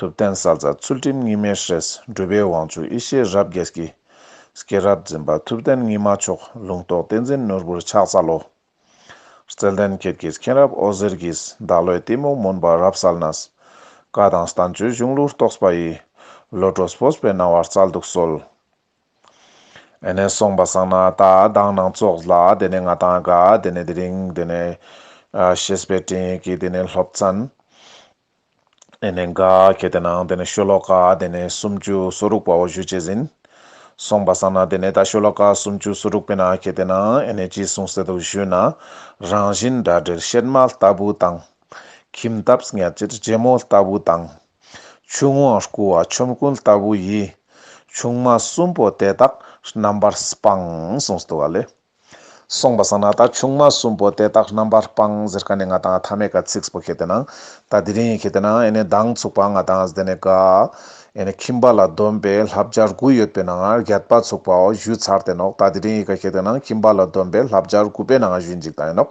ཐུབ་བསྟན་གསལ་རྩ་ཚུལ་ཁྲིམས་གཉིས་མེད་ཧྲཱི། སྦྲུལ་པའི་དབང་ཕྱུག་ཡེ་ཤེས་རབ་རྒྱས་ཀྱི། སྐྱེས་རབས་འཛིན་པ་ཐུབ་བསྟན་གཉིས་མ་མཆོག། ལུང་རྟོགས་བསྟན་འཛིན་ནོར་བུར་ཕྱག་འཚལ་ལོ། རྩལ་ལྡན་མཁས་ཀྱི་མཁྱེན་རབ་ཨོ་ཟེར་གྱིས། བདག་བློའི་གཏི་མུག་མུན་པ་རབ་བསལ་ན། བཀའ་དང་གསྟན་བཅོས་གཞུང་ལུགས་རྟོགས་པ་ཡི། བློ་གྲོས་ཕོས་པའི་སྣང་བ་རྩལ་སྡུག་གསོལ། ཨེ་ནས་སོང་བ་གསང་སྣང་ལྟ་སྟངས་སྣང་ཚོགས་ལ། དེ་ནས་ང་དང་དགའ། དེ་ནས་དེ་རིང། དེ་ནས། ཞེས་པའི་སྤྲིང་ཡིག་གིས་དེ་ནས་སློབ་ཚན། དེ་ནས་འགའ་ཁྱེར་ཏེ་ནང་དེ་ནས་ཤོ་ལོ་ཀ་དེ་ནས་སུམ་ཅུ་སོ་དྲུག་པའོ་བཞུད་ཅེས་ཟིན། གསུངས་པ་བསམ་ན་དེ་ནས་ད་ཤོ་ལོ་ཀ་སུམ་ཅུ་སོ་དྲུག་པའི་ནང་ཁྱེར་ཏེ་ན་ཨེ་ནས་ཅི་གསུངས་གསལ་དུ་བཞུད་ན། རང་བཞིན་འདྲ་འདྲེར་གཤེད་མ་ལྟ་བུ་དང། ཁྱིམ་ཐབས་ཉག་གཅིག་རྗེ་མོ་ལྟ་བུ་དང། ཆུ་དབང་བསྐུར་བ་ཆོམ་རྐུན་ལྟ་བུ་ཡི། ཆུང་མ་གསུམ་པོ་དེ་དག་རྣམ་པར་སྤངས་གསུངས་སོ་དུ་བ་ལས། སོང་པ་སང་ན་ད་ཆུང་མ་གསུམ་པོ་དེ་དག་རྣམ་པར་སྤངས་ཟེར་ཀ་ནས་ང་དང་ཐ་མས་ཀ་ཚིགས་པོ་ཁྱེར་ཏེ་ནང་ད་དེ་རིང་ཡིན་ཁྱེར་ཏེ་ནང་ཨེ་ནས་མདང་ཚུགས་པ་ང་དང་ཟླས་ནས་ཀ་ཨེ་ནས་ཁྱིམ་པ་ལ་སྡོམ་པས་ལྷ་བརྒྱ་དགུ་ཡོད་པའི་ནང་རྒྱལ་པ་ཚུགས་པའོ་བཞུད་ཚར་ཏེ་ནོག་ད་དེ་རིང་ཡིན་ཀ་ཁྱེར་ཏེ་ནང་ཁྱིམ་པ་ལ་སྡོམ་པས་ལྷ་བརྒྱ་དགུ་པའི་ནང་བཞུད་འཇིག་ད་ཨེ་ནོག་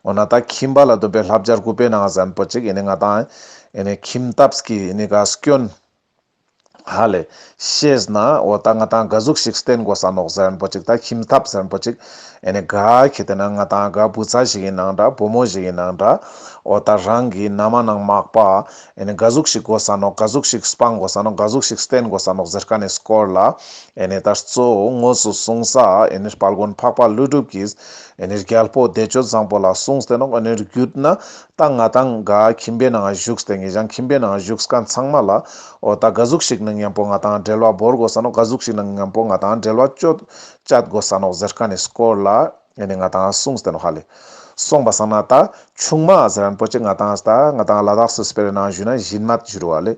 འོ་ན་ད་ཁྱིམ་པ་ལ་སྡོམ་པས་ལྷ་བརྒྱ་དགུ་པའི་ནང་ཟན་པོ་ཅིག་ཨེ་ནས་ང་དང་ཨེ་ནས་ཁྱིམ་ཐབས་ཀྱིས་ཨེ་ནས་ཀ་སྐྱོན། ཧ་ལས། ཤེས་ན་འོ་ད་ང་དང་དགའ་གཟུགས་ཤིག་བསྟན་དགོ་ཟ་ནོག་ཟ་རན་པོ་ཅིག་དང་ཁྱིམ་ཐབ་ཟ་རན་པོ་ཅིག་ཨེ་ནས་དགའ་ཁྱེད་དེ་ན་ང་དང་དགའ་བུ་ཚ་ཞིག་ཡིན་ནང་འདྲ་བུ་མོ་ཞིག་ཡིན་ནང་འདྲ་འོ་ད་རང་གི་ན་མ་ནང་མག་པ་ཨེ་ནས་དགའ་གཟུགས་ཤིག་དགོ་ཟ་ནོག་དགའ་གཟུགས་ཤིག་སྤང་དགོ་ཟ་ནོག་དགའ་གཟུགས་ཤིག་བསྟན་དགོ་ཟ་ནོག་ཟེར་ཀ་ནས་སྐོར་ལ་ཨེ་ནས་ད་གཙོ་བོ་དངོས་སུ་གསུང་ས་ཨེ་ནས་དཔལ་མགོན་འཕགས་པ་ཀླུ་སྒྲུབ་ཀྱིས་ཨེ་ནས་རྒྱལ་པོ་བདེ་སྤྱོད་བཟང་པོ་ལ་གསུངས་ཏེ་ནོག་ཨེ་ནས་རྒྱུད་ན་ད་ང་དང་དགའ་ཁྱིམ་པའི་ནང་བཞུགས་དེ་ངེད་ཅག་ཁྱིམ་པའི་ནང་བཞུགས་སྐབས་ཚང་མ་ལ། འོ་ད་དགའ་གཟུགས་ཤིག་ནང་ཉམས་པོ་ང་དང་འབྲེལ་བ་འབོར་དགོ་ས་ནོ་དགའ་གཟུགས་ཤིག་ནང་ཉམས་པོ་ང་དང་འབྲེལ་བ་བཅོ་བཅད་དགོ་ས་ནོ་ཟེར་ཀ་ནས་སྐོར་ལ་ནས་ང་དང་གསུངས་དེ་ནོ་ཧ་ལས་སོང་པ་སང་ན་ད་ཆུང་མ་ཟེར་རན་པོ་ཆེ་ང་དང་ད་ང་དང་ལ་དྭགས་སུ་སྤེལ་བའི་ནང་བཞུགས་ན་བཞིན་མ་བཞུགས་རོ་ཨ་ལས་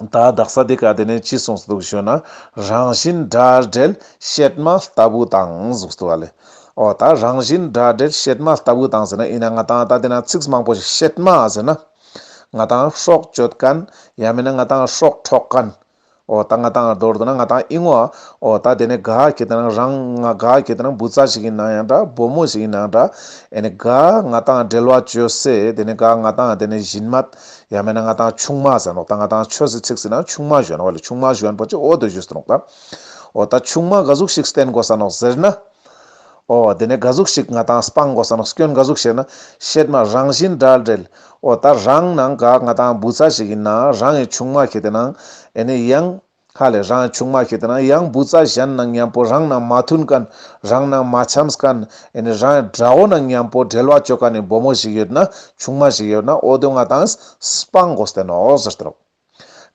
ད་བདག་ས་དེ་ག་དེ་ནས་ཅི་གསུངས་སུ་འདུག་ཞུ་ན། རང་བཞིན་སྒྲ་སྦྲེལ་བཤད་མ་ལྟ་བུ་དང་གཟུགས་སུ་བ་ལས། ཨོ་ད་རང་བཞིན་སྒྲ་སྦྲེལ་བཤད་མ་ལྟ་བུ་དང་ཟེར་ན་ཡིན་ན་ང་དང་ད་དེ་ན་ཚིགས་མང་པོ་ཞིག་བཤད་མ་ཟེར་ན། ང་དང་ཧྲོག་གཅོད་ཀན། ཡང་མིན་ན་ང་དང་ཧྲོག་འཕྲོག་ཀན། ཨོ་ད་ང་དང་མདོར་བསྡུ་ན་ང་དང་ཨི་ངོ། ཨོ་ད་དེ་ནས་ག་གེ་དེ་ན་རང་ང་ག་གེ་དེ་ན་བུ་ཚ་ཞིག་ཡིན་ན་ཡང་འདྲ་བུ་མོ་ཞིག་ཡིན་ན་ཡང་འདྲ། ཨེ་ནས་ག་ང་དང་སྦྲེལ་བ་བཅོས་སའི་དེ་ནས་ག་ང་དང་དེ་ནས་བཞིན་མད། ཡང་མིན་ན་ང་དང་ཆུང་མ་ཟེར་ནོག་ད་ང་དང་ཆོས་ཟེར་ཚིག་ཟིན་ན་ཆུང་མ་གཞོན་བ་ལས་ཆུང་མ་གཞོན་པོ་ཅིག་འོ་དོད་བཞུ་ཟེར་ནོག་ད། འོ་ད་ཆུང་མ་ག་ཟུག་ཞིག་བསྟན་དགོ་ས་ནོག་ཟེར་ན། འོ་དེ་ནས་ག་ཟུག་ཞིག་ང་དང་སྤང་དགོ་ས་ནོག་སྐྱོན་ག་ཟུག་ཞེ་ན། བཤད་མ་རང་བཞིན་འདྲ་འདྲེལ། འོ་ད་རང་ནང་ག་ང་དང་བུ་ཚ་ཞིག་ཡིན་ན་རང་ཡི་ཆུང་མ་ཁྱེད་དེ་ནང་ཨེ་ནི་ཡང། ཁ་ལས་རང་བྱུང་མ་ཤེས་ཏེ་ན་ཡང་འབུ་རྩ་གཞན་ནང་ཉམས་པོ་རང་ནང་མ་མཐུན་གནས་རང་ནང་མ་འཆམས་གནས་རང་དགྲ་བོ་ནང་ཉམས་པོ་འབྲེལ་བ་གཅོད་ག་ནས་འབོ་མོ་ཞིག་ཡོད་ན་ཆུང་མ་ཞིག་ཡོད་ན་ཨོ་རྡོས་ང་དང་སྤ་མགོ་བསྟན་ནོ་ཟེར་ཏེ་རོ།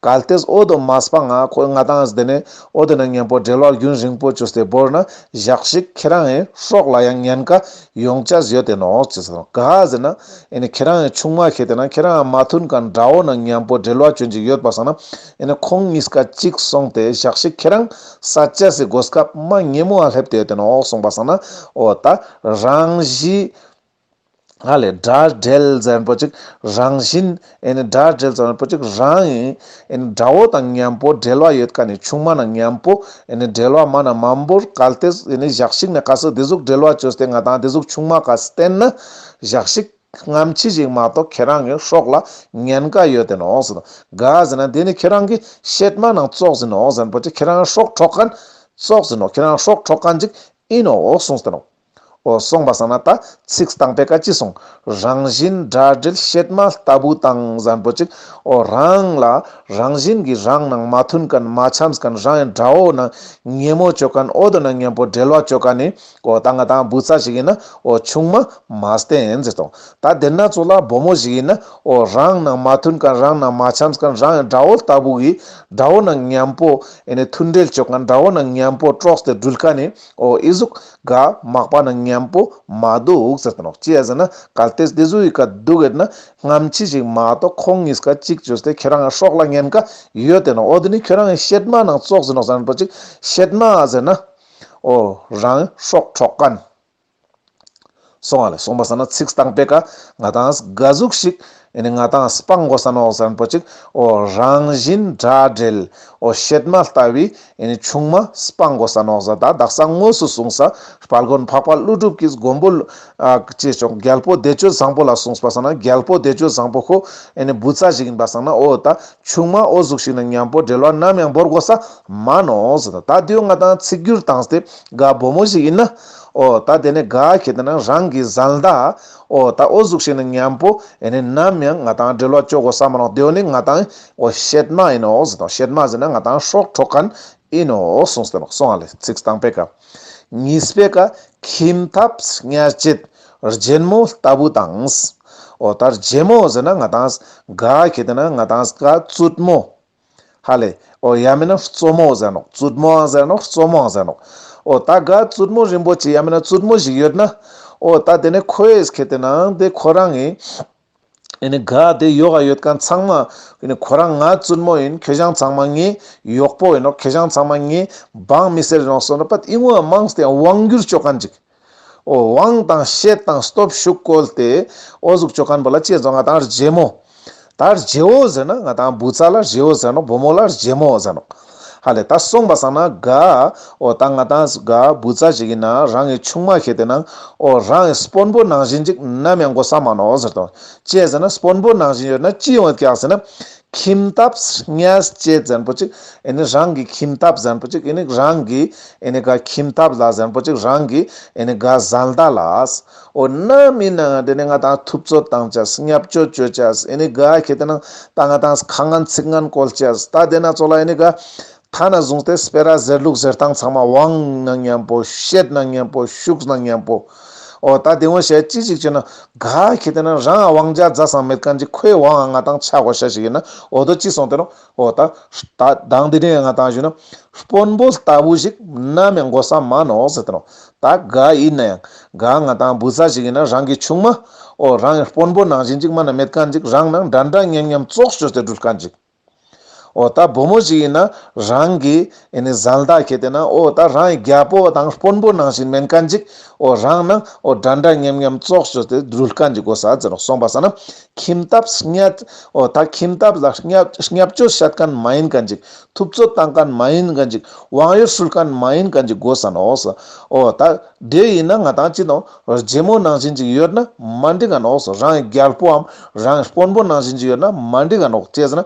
གལ་ཏེ་ཨོ་རྡོ་མ་སྤ་ང་ཁོས་ང་དང་བསྡད་ནས་ཨོ་རྡོ་ནང་ཉམས་པོ་འབྲེལ་བ་རྒྱུན་རིང་པོ་གཅོད་སའི་བོར་ན་བཞག་ཤིག་ཁྱེད་རང་ཡི་ཧྲོག་ལ་ཡང་ཉན་ཀ་ཡོང་ཅ་ཟོས་ཏེ་ནོ་ཅི་ཟེར་ག་ཟེར་ན་ཨེ་ནས་ཁྱེད་རང་ཡི་ཆུང་མ་ཤེས་ཏེ་ན་ཁྱེད་རང་མ་མཐུན་གནས་དགྲ་བོ་ནང་ཉམས་པོ་འབྲེལ་བ་གཅོད་འཇིག་ཡོད་པ་སང་ན་ཡིན་ན་ཁོང་གཉིས་ཀ་གཅིག་སོང་སྟེ་ཞག་ཤས་ཁྱེད་རང་ས་སྐྱ་སེ་འགོ་སྐབས་མ་སྙེ་མོ་ཨ་སླེབས་དེ་དེ་ན་འོག་སོང་པ་སང་ན་འོ་ད་རང་བཞིན་ཨ་ལས་སྒྲ་སྒྲལ་ཙན་པོ་ཅིག་རང་བཞིན་ཨེ་ནི་སྒྲ་སྒྲལ་ཙན་པོ་ཅིག་རང་ཨེ་ཨེ་ནི་དགྲ་བོ་དང་གཉན་པོ་སྒྲལ་བ་ཡོད་ཀ་ནི་ཆུང་མ་ན་གཉན་པོ་ཨེ་ནི་སྒྲལ་བ་མ་ན་མ་འབོར་གལ་ཏེ་ཨེ་ནི་ཞག་ཤིག་ནས་ག་སི་དེ་གཟུགས་སྒྲལ་བ་བྱོས་སྟེ་ང་དང་དེ་གཟུགས་ཆུང་མ་ག་སི་བསྟན་ན་ཞག་ཤིག། ངམ་ཅི་ཞིག་མ་གཏོགས་ཁྱེད་རང་གི་ཧྲོག་ལ་ཉན་དགའ་ཡོད་དེ་ནོག་ཟེར་དགའ་ཟེར་ན་དེ་ནི་ཁྱེད་རང་གི་གཤེད་མ་ནང་བཙོག་ཟིན་ནོག་ཟེར་པོ་ཅིག་ཁྱེད་རང་ཧྲོག་ཁྲོག་ག་བཙོག་ཟིན་ནོག་ཁྱེད་རང་ཧྲོག་ཁྲོག་ག་འཇིག་ཨིན་ནོག་གསུངས་ཟེར་ནོག་ཨོ་གསུངས་པ་ཟ་ན་ད་ཚིགས་སྟངས་པས་ཀ་ཅི་གསུང་རང་བཞིན་འདྲ་འདྲིལ་གཤེད་མ་ལྟ་བུ་དང་ཟན་པོ་ཅིག་ཨོ་རང་ལ་རང་བཞིན་གི་རང་ནང་མ་མཐུན་ག་མ་འཆམས་ག་རང་ཡང་འདྲ་ཨོ་ན་ངན་མོ་བྱོས་ག་ཨོ་དོ་ན་ངན་པོ་འདྲེལ་བ་བྱོས་ག་ནི་ཀོ་ད་ང་དང་བུ་ཚ་ཞིག་ཡིན་ན་ཨོ་ཆུང་མ། མཱས་ཏེ་ཨེན་ཛེ་དང། ད་དེར་ན་ཚོ་ལ་བུ་མོ་ཞིག་ཡིན་ན་ཨོ་རང་ནང་མ་མཐུན་ཀ་རང་ནང་མ་འཆམས་ཀ་རང་ཡང་དགྲ་བོ་ལྟ་བུ་གི། དགྲ་བོ་ནང་མཉམ་པོ་ཨེ་ནི་མཐུན་འབྲེལ་བྱོས་ཀ་དགྲ་བོ་ནང་མཉམ་པོ་དཀྲོགས་ཏེ་འདྲུལ་ཀ་ནི་ཨོ་ཨི་གཟུག་ག་མག་པ་ནང་མཉམ་པོ་མ་འདུག་ཟེར་དོན་ཨོ་ཅི་ཡ་ཟེར་ན་གལ་ཏེས་དེ་ཟུ་ཡི་ཀ་འདུག་ཨེ་ན་སྔམ་ཆི་ཞིག་མ་གཏོགས་ཁོང་གཉིས་ཀ་གཅིག་བྱོས་ཏེ་ཁྱོད་རང་སྲོག་ལ་ཉན་ཀ་ཡོད་དེ་ན་ཨོ་དེ་ནི་ཁྱོད་རང་གི་བཤད་མ་ནང་བཙོག་ཟིན་ནོ་ཟེར་ན་ཨོ་ཅིག་བཤད་མ་ཨ་ཟེར་ན། ཨོ་རང་སྲོག་འཕྲོག་ག། སོང་ཨ་ལ་སོང་པ་ས་ན་ཚིགས་དང་པད་ཀ་ང་དང་དགའ་གཟུགས་ཤིག་ཨེ་ནི་ང་དང་སྤང་མགོ་ས་ནོག་ཟན་པོ་ཅིག་ཨོ་རང་བཞིན་དགྲ་བྲལ་ཨོ་བཤེད་མ་ལྟ་བུའི་ཨེ་ནི་ཆུང་མ་སྤང་མགོ་ས་ནོག་ཟ་ད་བདག་ས་དངོས་སུ་བཟུང་ས་བལ་དགོན་འཕགས་པ་ཀླུ་སྒྲུབ་ཀྱིས་མགོན་པོ་ལོཅེས་ཆོག་རྒྱལ་པོ་བདེ་སྤྱོད་བཟང་པོ་ལ་གསུངས་པ་ས་ན་རྒྱལ་པོ་བདེ་སྤྱོད་བཟང་པོ་ཁོ་ཨེ་ནི་བུ་ཚ་ཞིག་ཡིན་པ་ས་ན་ཨོ་ད་ཆུང་མ་ཨོ་གཟུགས་ཤིག་ནི་མཉམ་པོ་འབྲེལ་བ་ནམ་ཡང་འབོར་དགོ་ས་མ་ནོ་ཟེར། ད་དུས་ང་དང་ཚིག་བསྒྱུར་བཏང་སྟེ་དགའ་སྦོ་མོ་ཞིག་ཡིན་ན། ཨོ་ད་དེ་ནི་དགའ་ཁྱེད་དེ་ནི་རང་གི་བཟའ་ཟླ། ཨོ་ད་ཨོ་གཟུགས་ཤིག་ནི་མཉམ་པོ་ཨེ་ནི་ནམ་ཡང་ང་དང་འབྲེལ་བ་གཅོག་དགོ་ས་མ་ནོ་དེའོ་ནི་ང་དང་ཨོ་ཤེད་མ་ཡིན་ནོ་ཟེར་དང་ཤེད་མ་ཟེར་ན་ང་དང་ཧྲོག་ཧྲོག་ག་ནི་ཨེ་ནོ་གསུངས་སྟེ་ལོག་སོང་ལ་ཚིགས་དང་པད་ཀ། གཉིས་སྤེལ་ཀ་ཁྱིམ་ཐབ་སྙ་བཅད་རྒྱལ་མོ་ལྟ་བུ་དང། འོ་ལྟར་རྒྱལ་མོ་ཟེར་ན་ང་དང་དགའ་གི་དེ་ན་ང་དང་དགའ་བཙུད་མོ། ཧ་ལས་འོ་ཡ་མེན་ན་བཙོ་མོ་ཟེར་ནོག་བཙུད་མོའང་ཟེར་ནོག་བཙོ་མོའང་ཟེར་ནོག་འོ་ལྟ་དགའ་བཙུད་མོ་རིན་པོ་ཆེ་ཡ་མེན་ན་བཙུད་མོ་ཞིག་ཡོད་ན། འོ་ལྟ་དེ་ནས་ཁོའི་གི་དེ་ན་དེ་ཁོ་རང་གི། ཨེ་ནི་ག་དེ་ཡོ་ག་ཡོད་ག་ཚང་མ་ཨེ་ནི་ཁོ་རང་ང་བཙུན་མོ་ཡིན་ཁྱོད་རང་ཚང་མ་ངའི་གཡོག་པོ་ཡིན་ནོ་ཁྱོད་རང་ཚང་མ་ངའི་འབངས་མི་སེར་ཡིན་ནོ་གསུངས་ནས་པད་ཨིན་ཝོའི་དམངས་དེ་དབང་བསྒྱུར་བྱོས་ག་འཇིག་ཨོ་དབང་དང་བཤད་དང་སྟོབས་ཤུགས་བཀོལ་ཏེ་ཨོ་ཟུག་བྱོས་ག་འབོ་ལ་ཅེས་བརྫོ་ང་དང་རྗེ་མོ་ད་རྗེའོ་ཟེར་ན་ང་དང་བུ་ཚ་ལ་རྗེའོ་ཟེར་ནོ་བུ་མོ་ལ་རྗེ་མོ་ཟེར་ནོ། ཧ་ལས་ད་སོང་པ་སང་ན་དགའ། ཨོ་ད་ང་དང་དགའ་བུ་རྩ་གཅིག་ཡིན་ན་རང་གི་ཆུང་མ་ཁྱེད་དེ་ནང་ཨོ་རང་གི་སྤོན་པོ་ནང་བཞིན་ཅིག་ནམ་ཡང་འགོ་ས་མ་ནོར་ཟེར་དོ། ཅེས་ཟེར་ན་སྤོན་པོ་ནང་བཞིན་ཡོད་ན་ཅི་ཡོང་བསྐྱག་ཟེར་ན། ཁྱིམ་ཐབ་སྙས་ཅེས་ཛན་པོ་ཅིག་ཨེ་ནི་རང་གི་ཁྱིམ་ཐབ་ཟན་པོ་ཅིག་ཨེ་ནི་རང་གི་ཨེ་ནི་དགའ་ཁྱིམ་ཐབ་ལ་ཟན་པོ་ཅིག་རང་གི་ཨེ་ནི་དགའ་བཟའ་ལྡ་ལ། འོ་ན་མིན་ན་འདི་ནི་ང་དང་ཐུབ་ཚོད་བཏང་ཅགས་སྙབ་བཅོལ་བཅོལ་ཅགས་ཨེ་ནི་དགའ་ཁྱེད་དེ་ནང་ད་ང་དང་ཁ་ངན་ཚིག་ངན་བཀོལ་ཅགས་ད་དེ་ན་ཚོགས་ལ་ཨེ་ནི་དགའ། ཐ་ན་བཟུང་སྟེ་སྤེ་ར་ཟེར་ལུག་ཟེར་སྟངས་ཚང་མ་བང་ན་སྙན་པོ་བཤད་ན་སྙན་པོ་བཞུགས་ན་སྙན་པོ། འོ་ད་དེ་ངོ་ཤེས་ཅི་ཞིག་བྱེད་ན་དགའ་ཁྱེད་དེ་ན་རང་ཨ་བང་རྒྱ་བཟའ་ཟང་མེད་གང་ཅི་ཁོའི་བང་ཨ་ང་དང་ཆ་གོ་ཤ་ཞིག་ཡིན་ན་འོ་དོ་ཅི་སོང་དེ་རུང་ཨོ་ད། གདངས་འདི་དྲན་ང་དང་བཞུ་ན། དཔོན་པོ་ལྟ་བུ་ཞིག་ནམ་ཡང་མགོ་ས་མ་ནོག་ཟེར་དོ། ད་ག་ཡིན་ན་ཡང། ག་ང་དང་བུ་ཚ་ཞིག་ཡིན་ན་རང་གི་ཆུང་མ། ཨོ་རང་གི་དཔོན་པོ་ནང་བཞིན་ཅིག་མ་ན་མེད་ག་འཇིག་རང་ནང་འདྲ་འདྲ་མཉམ་མཉམ་བཙོག་བྱོས་ཟེར་འགྲུལ་ག་འཇིག། ཨོ་ད་བུ་མོ་ཞིག་ཡིན་ན་རང་གི། ཨེ་ནི་བཟའ་ཟླ་ཁྱེད་དེ་ན་ཨོ་ད་རང་ཡི་རྒྱལ་པོ་དང་དཔོན་པོ་ནང་བཞིན་མེན་ཀ་འཇིག་ཨོ་རང་ནང་ཨོ་དགྲ་འདྲ་མཉེམ་མཉམ་བཙོག་བྱོས་ཏེ་སྦྲུལ་དཀར་འཇིག་ཨོ་ཟ་ཟེར་རོགས་སོང་པ་ཟ་ན་ཁྱིམ་ཐབས་སྙད་ཨོ་ད་ཁྱིམ་ཐབས་ལ་སྙད་བཅོས་བཤད་གན་མ་ཡིན་ཀ་འཇིག་ཐུབ་ཚོད་བཏང་གན་མ་ཡིན་ཀ་འཇིག་དབང་ཡོད་ཧྲུལ་གན་མ་ཡིན་ཀ་འཇིག་དགོས་ཟ་ནོ་ཨོ་ཨོ་ད་དེ་ཡིན་ན་ང་དང་ཅི་དང་རྗེ་མོ་ནང་བཞིན་ཅིག་ཡོད་ན་མ་འགྲིག་གན་ཨོ་རང་ཡི་རྒྱལ་པོའམ་རང་ཡི་དཔོན་པོ་ནང་བཞིན་ཅིག་ཡོད་ན་མ་འགྲིག་གན་ཨོ་ཅེས་ཟེར་ན་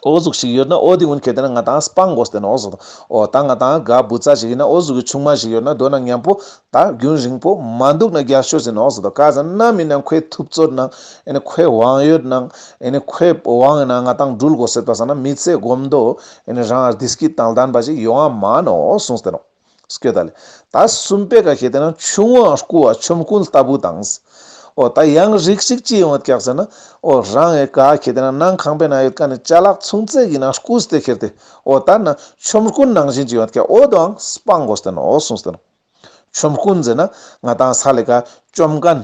ཨོ་གཟུགས་ཤིག་ཡོད་ན་ཨོ་དེ་ཨུན་གལ་ཏེ་ན་ང་དང་སྤང་གོ་ཟེར་ན་ཨོ་གཟུགས་དང། ཨོ་ད་ང་དང་ག་བུ་ཙ་ཞིག་ཡིན་ན་ཨོ་གཟུགས་ཀྱི་ཆུང་མ་ཞིག་ཡོད་ན་སྡོད་ན་ཉམས་པོ། ད་རྒྱུན་རིང་པོ་མ་འདུག་ན་རྒྱག་ཤོད་ཟེར་ན་ཨོ་གཟུགས་དང་ག་ཟེར་ན་མིན་ན་ཁོའི་ཐུབ་ཚོད་ན་ཨེ་ཁོའི་དབང་ཡོད་ན་ཨེ་ཁོའི་དབང་ཡོད་ན་ང་དང་འགྲུལ་གོ་ཟེར་ད་ཟེར་ན་མི་ཚེ་སྒོམ་འདོད་ཨེ་རང་ཨར་དིས་ཀི་དང་ལྡན་པ་ཞིག་ཡོང་ཨ་མ་ནོ་ཨོ་གཟུགས་ཟེར་ནོ། སྐད་བརྡ་ལས། ད་གསུམ་པའི་ག་གེ་དེ་ན་ཆུང་བ་སྐུ་བ་ཆོམ་རྐུན་ལྟ་བུ་དང། ཨོ་ད་ཡང་རིགས་ཤིག་ཅི་ཡོང་བ་བཀྱག་ཟེར་ན། ཨོ་རང་ཨེ་ག་གེ་དེ་ན་ནང་ཁང་པའི་ན་ཡོད་ཀ་ནས་བཅའ་ལག་ཚུང་བརྩེགས་ཡིན་ན་སྐུ་སྟེ་ཁེར་ཏེ་ཨོ་ད་ན་ཆོམ་རྐུན་ནང་བཞིན་ཅི་ཡོང་བ་བཀྱག་ཨོ་དང་སྤང་གོ་སྟེ་ན་ཨོ་གསུངས་སྟེ་ན། ཆོམ་རྐུན་ཟེར་ན་ང་དང་ས་ལེ་ག་ཅོམ་ག།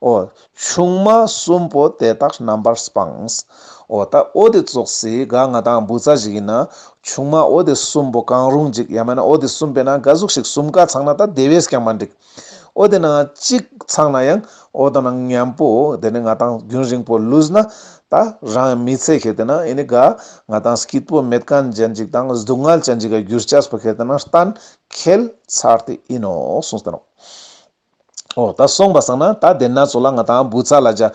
ཨོ། ཆུང་མ་གསུམ་པོ་དེ་དག་རྣམ་པར་སྤངས། ཨོ། ད་ཨོ་དེ་བཙོག་སའི་སྒ་ང་དང་འབུ་ཚ་ཞིག་ཡིན་ན། ཆུང་མ་ཨོ་དེ་གསུམ་པོ་གང་རུང་འཇིག་ཡང་མེད་ན་ཨོ་དེ་གསུམ་པའི་ནང་སྒ་གཟུགས་ཤིག་གསུམ་ཀ་ཚང་ན་ད་དེ་བས་ཀྱང་མ་འགྲིག། ཨོ་དེ་ནང་གཅིག་ཚང་ན་ཡང་ཨོ་དང་ནང་མཉམ་པོ་དེ་ནི་ང་དང་རྒྱུན་རིང་པོ་ལུས་ན། ད་རང་མི་ཚེ་ཁེལ་དེ་ན་ཨེ་ནི་སྒ་ང་དང་སྐྱིད་པོ་མེད་གང་ཅན་ཅིག་དང་སྡུག་བསྔལ་ཅན་ཅིག་ག་རྒྱུ་སྐྱ་སྤུ་ཁེལ་དེ་ན་གཏན་ཁེལ་ཚར་དེ་ཡིན་ནོ་གསུངས་སྟེ། ཨོ། ད་སོང་བ་སང་ན་ད་དེ་ན་ཚོ་ལ་ང་དང་བུ་ཚ་ལ་སྦྱར།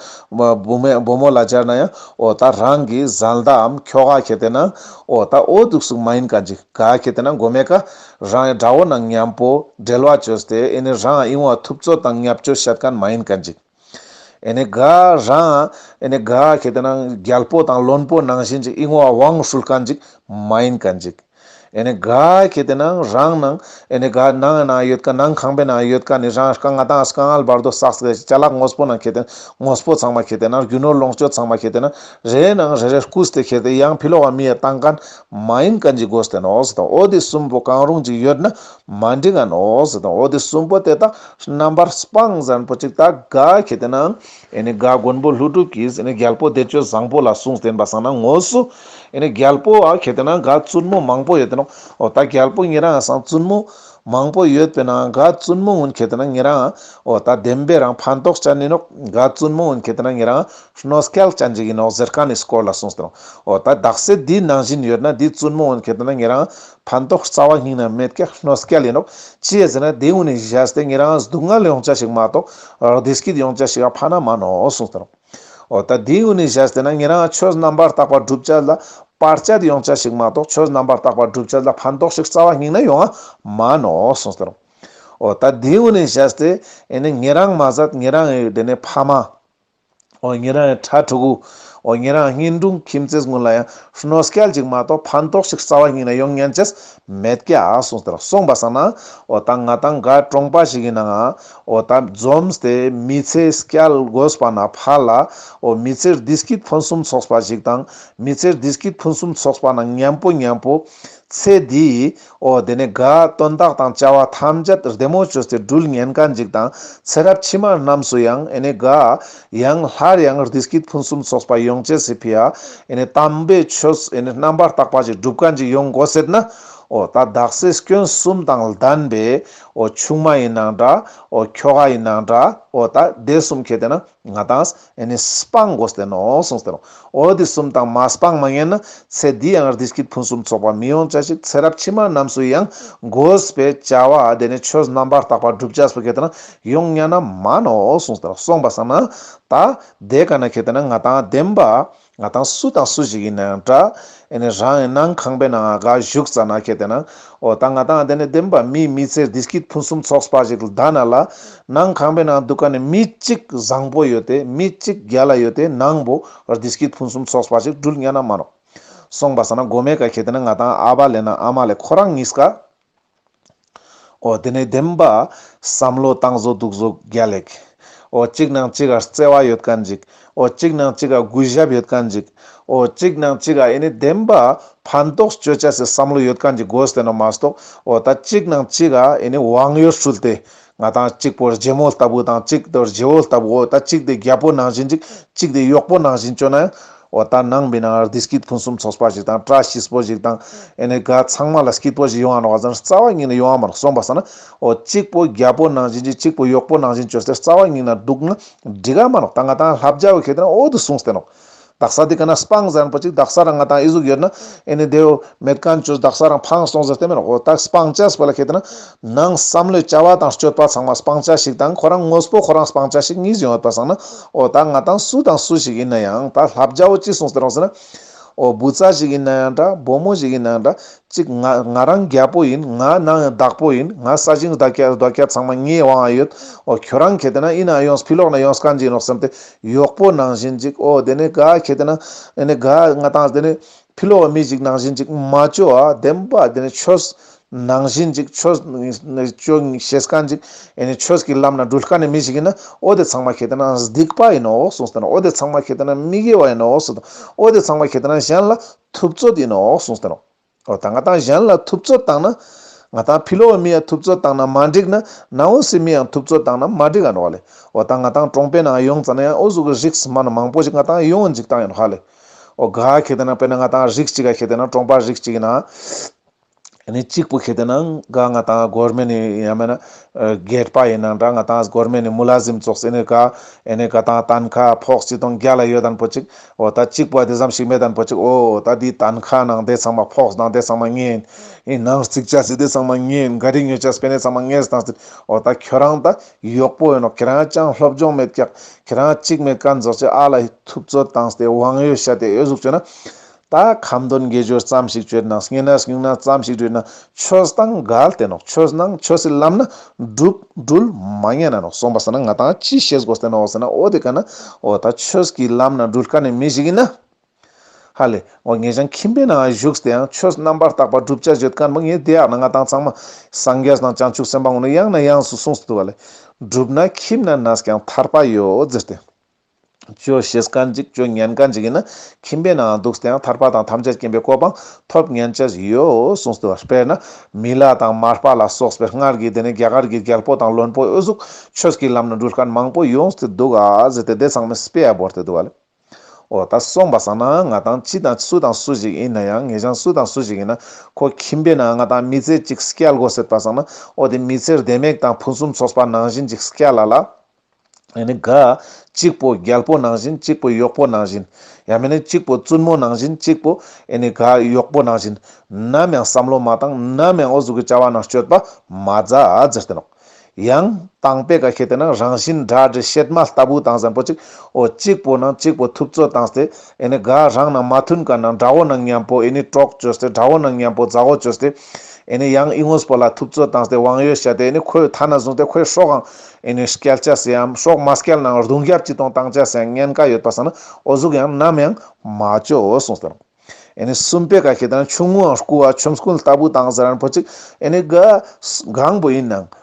བུ་མོས་བུ་མོ་ལ་སྦྱར་ན་ཡང་ཨོ། ད་རང་གི་བཟའ་ཟླ་འམ་ཁྱོ་ག་ཁྱེར་ཏེ་ན་ཨོ། ད་ཨོ་འདུག་སུ་མ་ཡིན་ག་འཇིག་ག་ཁྱེར་ཏེ་ན་མགོ་མེད་ཀ། རང་ཡང་དགྲ་བོ་ན་ཉམས་པོ་བསྒྲལ་བ་བཅོས་ཏེ་ཨེ་ནི་རང་ཨི་འོང་ཐུབ་ཚོད་དང་ཉབ་ཅོ་ཤད་ག་མ་ཡིན་ག་འཇིག། ཨེ་ནི་ག་རང་ཨེ་ནི་ག་ཁྱེར་ཏེ་ན་རྒྱལ་པོ་དང་བློན་པོ་ནང་བཞིན་གྱི་ཨི་འོང་དབང་ཧྲུལ་ག་འཇིག་མ་ཡིན་ག་འཇིག། ཨེ་ནི་ག་གལ་ཏེ་ན་རང་ན་ཨེ་ནི་ག་ན་ང་ན་ཡོད་ག་ན་ཁང་པའི་ན་ཡོད་ག་ནི་རང་རྐང་ང་དང་སྐ་ངལ་བར་དོ་སགས་སེ་ཅ་ལག་ངོས་པོ་ན་གལ་ཏེ་ན་ངོས་པོ་ཚང་མ་གལ་ཏེ་ན་རྒྱུ་ནོར་ལོངས་སྤྱོད་ཚང་མ་གལ་ཏེ་ན་རེ་ན་རེ་རེ་སྐུ་སྟེ་གལ་ཏེ་ཡང་ཕི་ལོ་བ་མི་ཡི་སྟངས་ཀ་ན་མ་ཡིན་ག་འཇིག་དགོས་སྟེ་ནོ་ཟེ་དང་འོ་དེ་གསུམ་པོ་གང་རུང་ཅིག་ཡོད་ན་མ་འདྲི་ང་ནོ་ཟེ་དང་འོ་དེ་གསུམ་པོ་དེ་དག་རྣམ་པར་སྤངས་ཟན་པོ་ཅིག་དག་ག་གལ་ཏེ་ན་རྒ་མགོན་པོ་ལྷུན་གྲུབ་ཀྱིས་རྒྱལ་པོ་བདེ་སྤྱོད་བཟང་པོ་ལ་གསུངས་བསྟན་པ་བསམ་ན་ངོ་སོ། རྒྱལ་པོ་ཨ་གྱེས་དེ་ན་འགའ་བཙུན་མོ་མང་པོ་ཡོད་དེ་ན་འོ་ད་རྒྱལ་པོ་ངེད་རང་སང་བཙུན་མོ། མང་པོ་ཡོད་པས་ན་འགའ་བཙུན་མོ་ངོན་གྱེས་དེ་ན་ངེད་རང་འོ་ད་བདེན་པའི་རང་ཕན་ཐོགས་བྱ་ནི་ནོ་འགའ་བཙུན་མོ་ངོན་གྱེས་དེ་ན་ངེད་རང་ཤནོ་སྐལ་བྱ་འཇིག་ཡིན་ནོ་ཟེར་ཀ་ནི་སྐོར་ལ་གསུངས་བསྟན་ནོ་འོ་ད་བདག་སྲས་འདིའི་ནང་བཞིན་ཡོད་ན་འདིའི་བཙུན་མོ་ངོན་གྱེས་དེ་ན་ངེད་རང་ཕན་ཐོགས་རྩ་བ་སྙིང་ནས་མེད་སྐད་སྣོད་སྐད་ལས་འདོགས། ཅེས་ཟེར་ན་དེའི་དབུས་ནས་བཞད་དེ་ངེད་རང་སྡུག་བསྔལ་ཡོང་བྱ་ཞིག་མ་གཏོགས་རྡེལ་སྐྱིད་ཡོང་བྱ་ཞིག་ཕ་ན་མ་ནོ་གསུངས་དོན་རོ། འོ་ད་དེའི་དབུས་ནས་བཞད་དེ་ན་ངེད་རང་ཆོས་རྣམ་པར་དག་པ་བསྒྲུབ་བྱ་ལ་པར་བྱ་དེ་ཡོང་བྱ་ཞིག་མ་གཏོགས་ཆོས་རྣམ་པར་དག་པ་བསྒྲུབ་བྱ་ལ་ཕན་ཐོགས་ཤིག་རྩ་བ་སྙིང་ནས་ཡོང་ང་མ་ནོ་གསུངས་དོན་རོ། འོ་ད་དེའི་དབུས་ནས་བཞད་དེ་ནི་ངེད་རང་མ་ཟད་ངེད་རང་ཡི་དེ་ནས་ཕ་མ། འོ་ངེད་རང་ཡང་ཁྲ་ཁྲོ་གུ། འོ་ངེད་རང་ངྷི་འབྲུག་ཁྱིམ་མཚེས་དངོས་ལ་ཡང་ཧྲནོ་སྐལ་ཅིག་མ་གཏོགས་ཕན་ཐོགས་ཤིག་རྩ་བ་སྙིང་ནས་ཡོང་ཉན་ཅེས་མེད་ཀྱ་གསུངས་དེར་སོང་པ་བསམ་ན། འོ་ད་ང་དང་འགའ་གྲོངས་པ་ཞིག་ཡིན་ནའང། འོ་ད་འཛོམས་ཏེ་མི་ཚེ་སྐྱལ་དགོས་པ་ན་ཕར་ལ། འོ་མི་ཚེར་དིས་ཀྱིས་ཕུན་སུམ་ཚོགས་པ་ཞིག་དང། མི་ཚེར་དིས་ཀྱིས་ཕུན་སུམ་ཚོགས་པ་ན་ཉམས་པོ་ཉམས་པོ། ཚེ་འདིའི་ཨོ་དེ་ནས་དགའ་སྟོན་རྟགས་དང་བཅའ་བ་ཐམས་ཅད་བདེ་མོ་བྱོས་ཏེ་སྦྲུལ་ངན་དཀའ་འཇིགས་དང་ཚེ་རབས་ཕྱི་མ་རྣམས་སུ་ཡང་ཨེ་ནས་དགའ། ཡང་སླར་ཡང་རྡི་སྐྱིད་ཕུན་སུམ་ཚོགས་པ་ཡོངས་སྐྱེ་སི་ཕི་ཨ་ཨེ་ནས་དམ་པའི་ཆོས་ཨེ་ནས་རྣམ་པར་དག་པ་ཅིག་སྒྲུབ་དཀའ་འཇིགས་ཡོངས་འགོ་སྲེད་ན། ཨོ་ད་བདག་སྲས་སྐྱོན་གསུམ་དང་ལྡན་པས་ཨོ་ཆུང་མ་ཡིན་ན་འདྲ་ཨོ་ཁྱོ་ག་ཡིན་ན་འདྲ་ཨོ་ད་སྡེ་གསུམ་ཁྱེད་དེ་ན་ང་དང། ཨེ་ནི་སྤང་དགོས་ལྟེ་ནོ་གསུངས་ལྟེ་ནོ། འོ་འདི་གསུམ་དང་མ་སྤངས་མ་ཡིན་ན་ཚེ་འདི་ཡང་ངར་འདི་སྐྱིད་ཕུན་སུམ་ཚོགས་པ་མི་ཡོང་བྱ་ཞིག་ཚེ་རབས་ཕྱི་མ་རྣམས་སུ་ཡང་དགོས་པས་བྱ་བ་དེ་ནི་ཆོས་རྣམ་པར་དག་པ་བསྒྲུབ་བྱ་སོ་གེ་ལྟེ་ན་ཡོང་སྙ་ན་མ་ནོ་གསུངས་ལྟེ་ནོ་སོང་པ་བསམ་ན་ད་དེ་ག་ན་གེ་ལྟེ་ན་ང་དང་ལྡན་པ། ང་དང་སུ་དང་སུ་ཞིག་ཡིན་ན་ཡང་འདྲ། ཨེ་ནས་རང་ཡང་ནང་ཁང་པའི་ནང་ག་བཞུགས་ཙ་ན་ཁད་དེ་ན། འོ་ད་ང་དང་འདི་ནས་བདེན་པ་མིའི་མི་ཚེར་དེ་སྐྱིད་ཕུན་སུམ་ཚོགས་པ་ཞིག་ལྡ་ན་ལ། ནང་ཁང་པའི་ནང་འདུག་ག་ནས་མི་གཅིག་བཟང་པོ་ཡོད་དེ་མི་གཅིག་རྒྱ་ལ་ཡོད་དེ་ནང་བོ་བར་དེ་སྐྱིད་ཕུན་སུམ་ཚོགས་པ་ཞིག་འདྲུལ་ཉ་ན་མ་རོགས། སོང་པ་ཟ་ན་མགོ་མེད་ག་ཁད་དེ་ན་ང་དང་ཨ་བ་ལས་ན་ཨ་མ་ལས་ཁོ་རང་གཉིས་ཀ། ཨོ་དེ་ནས་བདེན་པ། བསམ་བློ་བཏང་བཟོ་སྡུག་བཟོ་རྒྱ་ལེགས། ཨོ་གཅིག་ནང་གཅིག་ག་བརྩེ་བ་ཡོད་ག་འཇིག། ཨོ་གཅིག་ནང་གཅིག་ག་གུས་ཞབས་ཡོད་ག་འཇིག། ཨོ་གཅིག་ནང་གཅིག་ག་ཨེ་ནི་བདེན་པ། ཕན་ཐོགས་སྤྱོད་བྱ་སའི་བསམ་བློ་ཡོད་ག་འཇིག་དགོས་བསྟན་ནོ་མ་གཏོགས་ཨོ་ད་གཅིག་ནང་གཅིག་ག་ཨེ་ནི་དབང་ཡོད་སྲུལ་ཏེ། ང་དང་གཅིག་པོར་རྗེ་མོ་ལྟ་བུ་དང་གཅིག་དེ་རྗེ་བོ་ལྟ་བུ་འོ་ད་གཅིག་དེ་རྒྱལ་པོ་ནང་བཞིན་ཅིག་གཅིག་དེ་གཡོག་པོ་ནང་བཞིན་སྤྱོད་ན་ཡང། འོ་ད་ནང་མི་ནང་རྡི་སྐྱིད་ཕུན་སུམ་ཚོགས་པ་ཞིག་དང་བཀྲ་ཤིས་པོ་ཞིག་དང་ཨེ་ནས་ག་ཚང་མ་ལ་སྐྱིད་པོ་ཞིག་ཡོང་བ་ནོར་བ་ཟེར་ན་རྩ་བ་ཉིད་ནས་ཡོང་བ་མ་རེད་གསུངས་པ་ཟེར་ན། འོ་གཅིག་པོ་རྒྱལ་པོ་ནང་བཞིན་ཅིག་གཅིག་པོ་གཡོག་པོ་ནང་བཞིན་སྤྱོད་ཟེར་རྩ་བ་ཉིད་ན་འདུག་ན་འགྲིག་ག་མ་རེད་ད་ང་དང་ལྷ་བརྒྱ་བའི་ཁེ་དེ་ན་འོ་དུ་གསུངས་ཏེ་ནོར། རྡག་ས་དེ་ག་ན་སྤང་ཟེར་པོ་ཅིག་རྡག་ས་ར་ང་དང་ཨི་གཟུགས་ཡོད་ན་ཨེ་ནི་དེའོ་མེད་ག་མཆོད་རྡག་ས་རང་འཕང་སོང་ཟེར་དེ་མེད་ཨོ་རྡག་སྤང་བྱ་ཟེར་པ་ལ་ཁེལ་དེ་ན་ནང་བསམ་བློའི་བྱ་བ་དང་སྤྱོད་པ་ཚང་མ་སྤང་བྱ་ཞིག་དང་ཁོ་རང་ངོས་པོ་ཁོ་རང་སྤང་བྱ་ཞིག་གཉིས་བཞིན་ཡོད་པ་བསམ་ན་ཨོ་རྡག་ང་དང་སུ་དང་སུ་ཞིག་ཡིན་ན་ཡང་ད་ལྷ་བརྒྱ་བོ་ཅི་གསུངས་ཟེར་རོང་ཟེར་ན་ཨོ་བུ་ཚ་ཞིག་ཡིན་ན་ཡང་འདྲ་བུ་མོ་ཞིག་ཡིན་ན་ཡང་འདྲ་ཅིག་ང་ང་རང་རྒྱལ་པོ་ཡིན་ང་ནང་ཡང་བདག་པོ་ཡིན་ང་ས་ཞིང་རྡོ་རྒྱ་རྡོ་རྒྱ་ཚང་མ་ངའི་དབང་ཡོད་ཨོ་ཁྱོད་རང་ཁེལ་དེ་ན་ཨི་ན་ཡོངས་ཕི་ལོག་ན་ཡོངས་གང་ཅི་ཡིན་རོགས་སེམས་དེ་གཡོག་པོ་ནང་བཞིན་ཅིག་ཨོ་དེ་ནས་ག་ཁྱེད་དེ་ན་ཨེ་ནས་ག་ང་དང་དེ་ནས་ཕི་ལོ་བ་མི་ཅིག་ནང་བཞིན་ཅིག་མ་ཅོ་ཨ་དེམ་པ་དེ་ནས་ཆོས་ནང་བཞིན་ཅིག་ཆོས་ཅོ་ཤེས་ཀ་ཅིག་ཨེ་ནས་ཆོས་ཀྱི་ལམ་ན་འགྲུལ་དཀའ་ནས་མི་ཞིག་ཡིན་ན་ཨོ་དེ་ཚང་མ་ཁྱེད་དེ་ན་སྡིག་པ་ཡིན་ནོ་གསུངས་སྟེ་ན་ཨོ་དེ་ཚང་མ་ཁྱེད་དེ་ན་མི་དགེ་བ་ཡིན་ནོ་གསུངས་སྟེ་ཨོ་དེ་ཚང་མ་ཁྱེད་དེ་ན་གཞན་ལ་ཐུབ་ཚོད་ཡིན་ནོ་གསུངས་སྟེ་ན། ཨོ་ད་ང་དང་གཞན་ལ་ཐུབ་ཚོད་བཏང་ན། ང་དང་ཕི་ལོ་བ་མི་ཡ་ཐུབ་ཚོད་བཏང་ན་མ་འགྲིག་ན། ནང་འོ་སི་མི་ཡང་ཐུབ་ཚོད་བཏང་ན་མ་འགྲིག་ཨ་འགྲོ་བ་ལེ། ཨོ་ད་ང་དང་ཀྲོང་པའི་ནང་ཡོང་ཙ་ན་ཡང་ཨོ་ཟུག་གི་རིགས་སི་མ་ན་མང་པོ་ཞིག་ང་དང་ཡོང་འཇིག་སྟངས་ཡོད་ཧ་ལེ། ཨོ་དགའ་ཁྱེད་དེ་ན་དཔེར་ན་ང་དང་རིགས་གཅིག་ག་ཁྱེད་དེ་ན་ཀྲོང་པ་རིགས་གཅིག་ཡིན་ན། ཡ་ནི་གཅིག་པུ་ཁྱེད་དེ་ན་དགའ་ང་དང་སྒོར་མེ་ནི་ཡ་མེ་ན། རྒས་པ་ཡིན་ན་འདྲ་ང་དང་སྒོར་མེ་ནི་མུ་ལ་ཟིམ་ཙོག་སི་ནི་དགའ། ཡ་ནི་དགའ་དང་ཏན་ཁ་ཕོགས་སྤྱི་སྟོང་བརྒྱ་ལ་ཡོད་དན་པོ་ཅིག་ཨོ་ད་ཅིག་པ་དེ་ཙམ་ཞིག་མེད་དམ་ཕོ་ཅིག་ཨོ་ད་དེའི་དང་ཁ་ནང་དེ་ཚང་མ་ཕོགས་དང་དེ་ཚང་མ་བརྔན། ཨེ་ནང་རྩིག་བྱ་ཟིག་དེ་ཚང་མ་བརྔན་འགའ་རེ་ཉོས་བྱ་སྤེན་དེ་ཚང་མ་བརྔས་དང་ཟེར། ཨོ་ད་ཁྱོད་རང་ད་ཡོག་པོ་ཡིན་ནོ་ཁྱེད་རང་ཅང་སློབ་སྦྱོང་མེད་ཀྱག་ཁྱེད་རང་གཅིག་མེད་ཀ་འཛོགས་ཅིག་ཨ་ལ་ཧི་ཐུབ་རྩོད་དང་ཟེ་དབང་ཡོད་བྱ་དེ་ཨོས་གཟུགས་བྱོས་ན། ད་ཁམ་དོན་དགེ་སྦྱོར་ཙམ་ཞིག་བྱོས་ན་བརྔན་ན་བསྙུང་ན་ཙམ་ཞིག་བྲོས་ན་ཆོས་དང་མགལ་ཏེ་ནོ་ཆོས་སྣང་ཆོས་སི་ལམ་ན། སྒྲུབ། སྒྲུལ། མ་ངེས་ན་ནོ་གསུངས་པ་ཟེར་ན་ང་དང་ཅི་ཤེས་དགོས་ཏེ་ནོ་ཟེར་ན་འོ་དེ་ག་ན། འོ་ད་ཆོས་ཀྱི་ལམ་ན་སྒྲུལ་དཀའ་ནི་མི་ཞིག་ཡིན་ན། ཧ་ལས། འོ་ངེད་ཅང་ཁྱིམ་པའི་ནང་བཞུགས་དེ་ཡང་ཆོས་རྣམ་པར་དག་པ་བསྒྲུབ་བྱ་བརྗོད་དཀའ་ནི་མི་ངེས་དེ་ཡག་ན་ང་དང་ཚང་མ། སངས་རྒྱས་དང་བྱང་ཆུབ་སེམས་དཔའ་ངོ་ནི་ཡང་ན་ཡང་སུ་གསུངས་སུ་བཏུ་བ་ལས། སྒྲུབ་ན་ཁྱིམ་ན་ན་ཟ་ཀྱང་ཐར་པ་ཡོད་ཟེར་ཏེ། བཅོས་བྱེད་དཀའ་འཇིག་བཅོས་ཉན་དཀའ་འཇིག་ཡིན་ན་ཁྱིམ་པའི་ནང་འདུག་སྟེའང་ཐར་པ་དང་ཐམས་ཅད་སྐྱེན་པའི་གོ་འཕང་ཐོབ་ཉན་བྱ་བཞིན་ཡོད་གསུངས་སོ། དཔེར་ན། མི་ལ་དང་མར་པ་ལ་སོགས་པའི་སྔར་གྱི་དེ་ནས་རྒྱ་གར་གྱི་རྒྱལ་པོ་དང་བློན་པོ་འོད་གཟུགས་ཆོས་ཀྱི་ལམ་ནས་འགྲུལ་དཀའ་མང་པོ་ཡོངས་སུ་འདུག་ཨ་ཟེར་ཏེ་སྡེ་ཚང་མས་སྤེ་ཡ་བོར་ཏེ་འདུག་བ་ལས། འོ་ད་སོང་བ་སང་ན་ང་དང་ཅི་དང་སུ་དང་སུ་ཞིག་ཡིན་ན་ཡང་ངེད་ཅག་སུ་དང་སུ་ཞིག་ཡིན་ན་ཁོ་ཁྱིམ་པའི་ནང་ང་དང་མི་ཚེ་གཅིག་སྐྱལ་དགོ་ཟེར་ད་སང་ན་འོ་དེ་མི་ཚེར་ལྡེ་མིག་དང་ཕུན་སུམ་ཚོགས་པ་ནང་བཞིན་ཅིག་སྐྱལ་ལ་ལ། ཡང་ན་གཅིག་པོ་རྒྱལ་པོ་ནང་བཞིན་གཅིག་པོ་གཡོག་པོ་ནང་བཞིན། ཡང་མིན་ན་གཅིག་པོ་བཙུན་མོ་ནང་བཞིན་གཅིག་པོ་གཡོག་པོ་ནང་བཞིན། ནམ་ཡང་བསམ་བློ་མ་བཏང་ནམ་ཡང་ཨོ་གཟུགས་ཀྱི་བྱ་བ་ནང་སྤྱོད་པ་མ་མཛད་ཟེར་ཏེ་ནོ། ཡང་དང་པས་ཀ་ཤེས་ཏེ་ན་རང་བཞིན་སྒྲ་དྲི་གཤེད་མ་ལྟ་བུ་དང་གཟན་པོ་གཅིག་ཨོ་གཅིག་པོ་ནང་གཅིག་པོ་ཐུབ་ཚོད་དང་སྟེ། རང་ནང་མ་མཐུན་ཀ་ན་དགྲ་བོ་ནང་མཉམ་པོ་གྲོགས་བྱོས་སྟེ་དགྲ་བོ་ནང་མཉམ་པོ་མཛའ་བོ་བྱོས་སྟེ། ཨེ་ནི་ཡང་ཨི་ངོས་པོ་ལ་ཐུབ་ཚོད་དང་དབང་ཡོད་བྱས་ཏེ་ཨེ་ནི་ཁོའི་མཐའ་ན་བཟུང་སྟེ་ཁོའི་སྲོག་འང་ཨེ་ནི་བསྐྱལ་བྱ་སའམ་སྲོག་མ་བསྐྱལ་ནའང་རྡུང་བརྒྱབ་ཅི་གཏོང་བཏང་བྱ་སའི་ཉེན་ཀ་ཡོད་པ་ཟ་ན་ཨོ་གཟུགས་ཡང་ནམ་ཡང་མ་སྤྱོ་འོ་གསུངས་ཟེར། ཨེ་ནི་སུམ་པའི་ག་ཁྱི་དང་ཆུང་ངུའང་རྐུ་བ་ཆོམ་རྐུན་ལྟ་བུ་དང་ཟེར་ན་ཕོ་གཅིག་ཨེ་ནི་ག་གང་པོ་ཡིན་ནའང་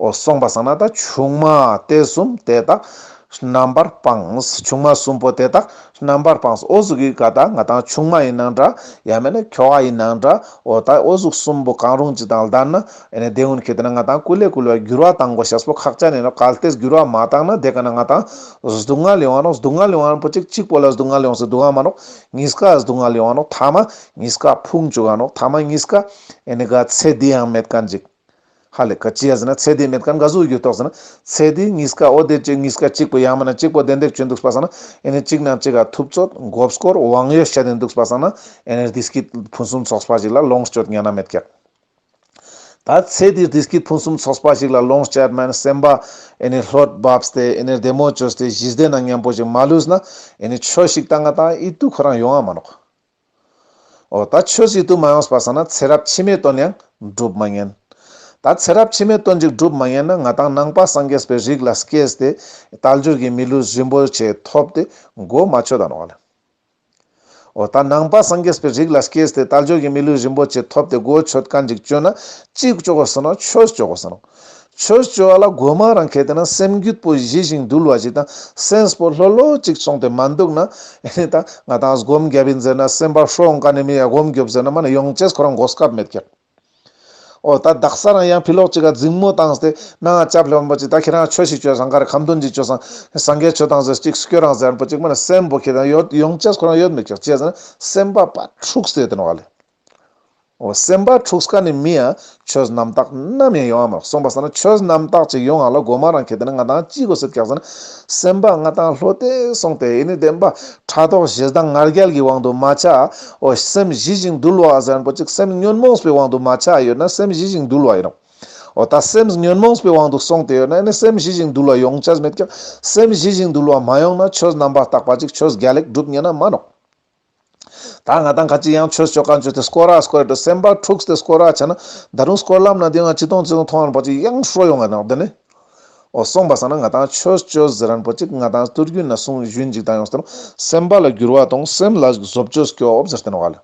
ཨོ། སོང་པ་སང་ན་ད་ཆུང་མ་དེ་གསུམ་དེ་དག་རྣམ་པར་སྤངས། ཆུང་མ་གསུམ་པོ་དེ་དག་རྣམ་པར་སྤངས། ཨོ་གཟུགས་ཡི་ག་དག་ང་དང་ཆུང་མ་ཡིན་ན་འདྲ། ཡང་མིན་ན་ཁྱོ་བ་ཡིན་ན་འདྲ། ཨོ། ད་ཨོ་གཟུགས་གསུམ་པོ་གང་རུང་ཅིག་དང་ལྡན་ན། ཨེ་ན་དེ་ཧུན་གྱིས་བལྟས་ན་ང་དང་སྐུ་ལས་བསྐུལ་བ་འགྱུར་བ་དང་གོ་ཞབས་སོ་ཁག་ཅག་ནས་ནི་གལ་ཏེ་འགྱུར་བ་མ་བཏང་ན་དེ་ག་ན་ང་དང། སྡུག་བསྔལ་ཡོང་བ་ནོ། སྡུག་བསྔལ་ཡོང་བ་ནི་པོ་ཅིག་གཅིག་པོ་ལ་སྡུག་བསྔལ་ཡོང་སྲིད་སྡུག་བསྔལ་མ་ནོ། གཉིས་ཀ་སྡུག་བསྔལ་ཡོང་བ་ནོ། ཐ་མ་གཉིས་ཀ་ཕུང་བྱུང་བ་ནོ། ཐ་མ་གཉིས་ཀ། ཨེ་ནི་ག་ཚད་འདི་ཡང་མེད་ག་འཇིག། ཧ་ལས་ཀ་ཅེས་ཟེར་ན་ཚད་དེའི་མེད་ཀ་འགའ་གཟུགས་ཡོད་དོགས་ཟེར་ན། ཚད་དེའི་གཉིས་ཀ་འོ་དེ་ཅི་གཉིས་ཀ་གཅིག་པུ་ཡང་མིན་ན་གཅིག་པོ་བདེན་འདེད་བྱོས་འདུག་པ་བསམ་ན། ཨེ་ནས་གཅིག་ན་གཅིག་ག་ཐུབ་ཚོད་འགོབ་སྐོར་དབང་ཡོད་བཤད་དེ་འདུག་པ་བསམ་ན། ཨེ་ནས་དེ་སྐད་ཕུན་སུམ་ཚོགས་པ་ཞིག་ལ་ལོངས་སྤྱོད་ངན་ན་མེད་ཀ། ད་ཚད་དེའི་དེ་སྐད་ཕུན་སུམ་ཚོགས་པ་ཞིག་ལ་ལོངས་སྤྱད་མན་སེམས་པ། ཨེ་ནས་ལྷོད་བབས་སྟེ་ཨེ་ནས་བདེ་མོ་བྱོས་སྟེ་གཞི་བདེ་ན་སྙན་པོ་ཞིག་མ་ལུས་ན། ཨེ་ནས་ཆོས་ཤིག་ད་ང་དང་ཨི་ཏུ་ཁོ་རང་ཡོང་ཨ་མ་ནོག། ཨོ་ད་ཆོས་སྲིད་དུ་མ་ཡོང་བར་ས་ན་ཚེ་རབས་ཕྱི་མའི་དོན་ཡང་སྒྲུབ་མ་ཉན། ད་ཚེ་རབས་ཕྱི་མའི་དོན་གཅིག་སྒྲུབ་མ་ཉན་ན་ང་དང་ནང་པ་སངས་རྒྱས་པའི་རིགས་ལ་སྐྱེས་ཏེ་རྟ་འགྱུར་གྱི་མི་ལུས་རིན་པོ་ཆེ་ཐོབ་སྟེ་སྒོ་མ་ཆོས་དང་ནོར་བ་ལེན། ཨོ་ད་ནང་པ་སངས་རྒྱས་པའི་རིགས་ལ་སྐྱེས་ཏེ་རྟ་འགྱུར་གྱི་མི་ལུས་རིན་པོ་ཆེ་ཐོབ་སྟེ་སྒོ་ཆོས་ཀ་འགྲིག་སྤྱོད་ན་གཅིག་སྤྱོད་དགོས་ཟེར་ན་ཆོས་སྤྱོད་དགོས་ཟེར་ནོ། ཆོས་སྤྱོད་བ་ལ་རྒོད་མ་རང་གལ་ཏེ་ན་སེམས་རྒྱུད་པོ་བཞི་ཞིང་འདུལ་བ་ཞིག་དང་སེམས་པོ་ལྷོད་ལྷོད་ཅིག་ཚོང་དེ་མ་འདུག་ན། ཨེ་ད་ང་དང་སྒོམ་རྒྱབ་ཡིན་ཟེར་ན་སེམས་པ་ཧྲོག་འགའ་ནས་མི་ཡ་སྒོམ་རྒྱོབ་ཟེར་ན་མ་ནི་ཡོང་ཆས་ཁོ་རང་འགོག་སྐབས་མེད་ཀྱང། ཨོ་ད་བདག་ས་རང་ཡང་ཕི་ལོག་ཅིག་ག་རྫིང་མོ་དང་ཏེ་ན་ང་སྐྱབས་ལྷོད་པོ་ཅིག་ད་ཁྱེད་རང་ཆོས་ཤིག་སྤྱོད་སང་ག་རེ་ཁམ་སྟོན་ཅིག་སྤྱོད་སང་སང་གས་ཆོས་དང་ཟེར་ཅིག་སྐྱོ་རང་ཟེར་པོ་ཅིག་མ་ནི་སེམས་པོ་ཁྱེད་རང་ཡོད་ཡོང་ཆས་ཁོ་རང་ཡོད་མེད་ཀྱང་བྱས་ཟེར་ན་སེམས་པ་པ་འཁྲུགས་ཟེར་དེ་ན་བ་ལས། འོ་སེམས་དཔའ་ཕྲུག་ཀ་ནི་མི་ཡང་ཆོས་རྣམ་དག་ནམ་ཡང་ཡོང་བ་མེད་གསུངས་པ་ཟེར་ན་ཆོས་རྣམ་དག་ཅིག་ཡོང་ང་ལ་དགོས་མ་རང་ཁྱེད་དེ་ནི་ང་དང་གཅིག་གོ་སེབས་ཀྱང་ཟེར་ན་སེམས་དཔའ་ང་དང་ལྷོད་དེ་སོང་སྟེ་ཡིན་ནི་བདེན་པ་ཕྲག་དོག་ཞེ་སྡང་ངར་རྒྱལ་གྱི་དབང་དུ་མ་ཆ་འོ་སེམས་ཞི་ཞིང་དུལ་བ་ཟེར་པོ་ཅིག་སེམས་ཉོན་མོངས་པའི་དབང་དུ་མ་ཆ་ཡོད་ན་སེམས་ཞི་ཞིང་དུལ་བ་ཡིན་ནོ་འོ་ད་སེམས་ཉོན་མོངས་པའི་དབང་དུ་སོང་སྟེ་ཡོད་ན་ནི་སེམས་ཞི་ཞིང་དུལ་བ་ཡོང་བྱ་མེད་ཀྱང་སེམས་ཞི་ཞིང་དུལ་བ་མ་ཡོང་ན་ཆོས་རྣམ་པ་དག་པ་ཅིག་ཆོས་བརྒྱ་ལེགས་གྲུབ་ཉན་ན་མ་ནོག། ད་ང་དང་ཁ་ཅིག་ཡང་ཆོས་སྤྱོད་བཀའ་འགྱུར་དེ་སྐོར་ར་སྐོར་དུ་སེམས་པ་འཁྲུགས་ཏེ་སྐོར་ར་བྱས་ན། ད་དུང་སྐོར་ལམ་ན་དེ་ང་ཅི་མཐོང་ཅི་མཐོང་མཐོང་རན་པོ་ཅིག་ཡང་ཧྲོལ་ཡོང་ང་ནང་དུ་ནི། འོ་གསུངས་པ་ཟ་ན་ང་དང་ཆོས་སྤྱོད་ཟེར་རན་པོ་ཅིག་ང་དང་བསྟུར་རྒྱུ་ན་གསུང་གཞུད་འཇིག་ལྟ་ཡོང་ཟེར་ན་སེམས་པ་ལ་འགྱུར་བ་དང་སེམས་ལ་བཟོ་བཅོས་སྐྱོབ་ཟེར་བསྟན་བ་ལ།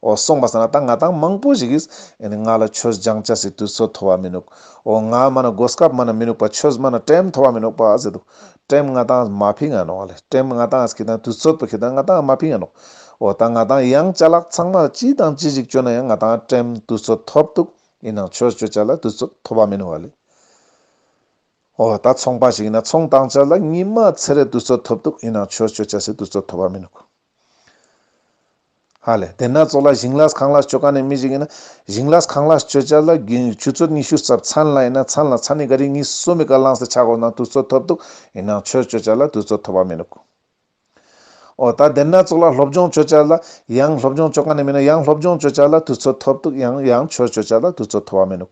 འོ་སོང་བ་ཟེར་ན་ད་ང་དང་མང་པོ་ཞིག་གིས་ང་ལ་ཆོས་སྦྱང་བྱ་ཟེར་དུས་ཚོད་མཐོ་བ་མི་ནུག་འོ་ང་སྨྲ་ན་སྒོ་སྐབས་སྨྲ་ན་མི་ནུག་པ་ཆོས་སྨྲ་ན་བྲེམ་མཐོ་བ་མི་ནུག་པ་ཟེར་འདུག་བྲེམ་ང་དང་མ་ཕིག་ང་ནོག་ལེ་བྲེམ་ང་དང་ཁྱེད་དང་དུས་ཚོད་པོ་ཁྱེད་དང་ང་དང་མ་ཕིག་ང་ནོག་འོ་ད་ང་དང་ཡང་བྱ་ལག་ཚང་མར་ཅི་དང་ཅི་ཞིག་བཅོལ་ན་ཡང་ང་དང་བྲེམ་དུས་ཚོད་མཐོ་བདུག་ཡིན་ནང་ཆོས་བཅོལ་བྱ་ལ་དུས་ཚོད་མཐོ་བ་མི་ནུག་བ་ལེ། འོ་ད་ཚོང་པ་ཞིག་ཡིན་ན་ཚོང་བཏང་བྱ་ལ་ཉི་མ་ཚེ་རེ་དུས་ཚོད་མཐོ་བདུག་ཡིན་ནང་ཆོས་བཅོལ་བྱ་ཟེར་དུས་ཚོད་མཐོ་བ་མི་ནུག། ཧ་ལས། དེ་སྣ་ཚོགས་ལ་ཞིང་ལ་གངས་ལ་སྤྱོད་ག་ནས་མི་ཞིག་ཡིན་ན། ཞིང་ལ་གངས་ལ་སྤྱོད་བྱ་ལ་རྒྱུན་ཆུ་ཚོད་ཉི་ཤུ་རྩ་ཚན་ལ་ཡིན་ན་ཚན་ལ་ཚ་ནི་ག་རེ་གཉིས་གསུམ་མི་ག་ལངས་སེ་ཆག་གོ་ན་དུས་ཚོད་ཐོབ་འདུག་ཡིན་ནའང་ཆོས་སྤྱོད་བྱ་ལ་དུས་ཚོད་ཐོབ་པ་མིན་འདུག་ཨོ། ད་དེ་སྣ་ཚོགས་ལ་སློབ་སྦྱོང་སྤྱོད་བྱ་ལ་ཡང་སློབ་སྦྱོང་སྤྱོད་ག་ནས་མིན་ན་ཡང་སློབ་སྦྱོང་སྤྱོད་བྱ་ལ་དུས་ཚོད་ཐོབ་འདུག་ཡང་ཡང་ཆོས་སྤྱོད་བྱ་ལ་དུས་ཚོད་ཐོབ་པ་མིན་འདུག་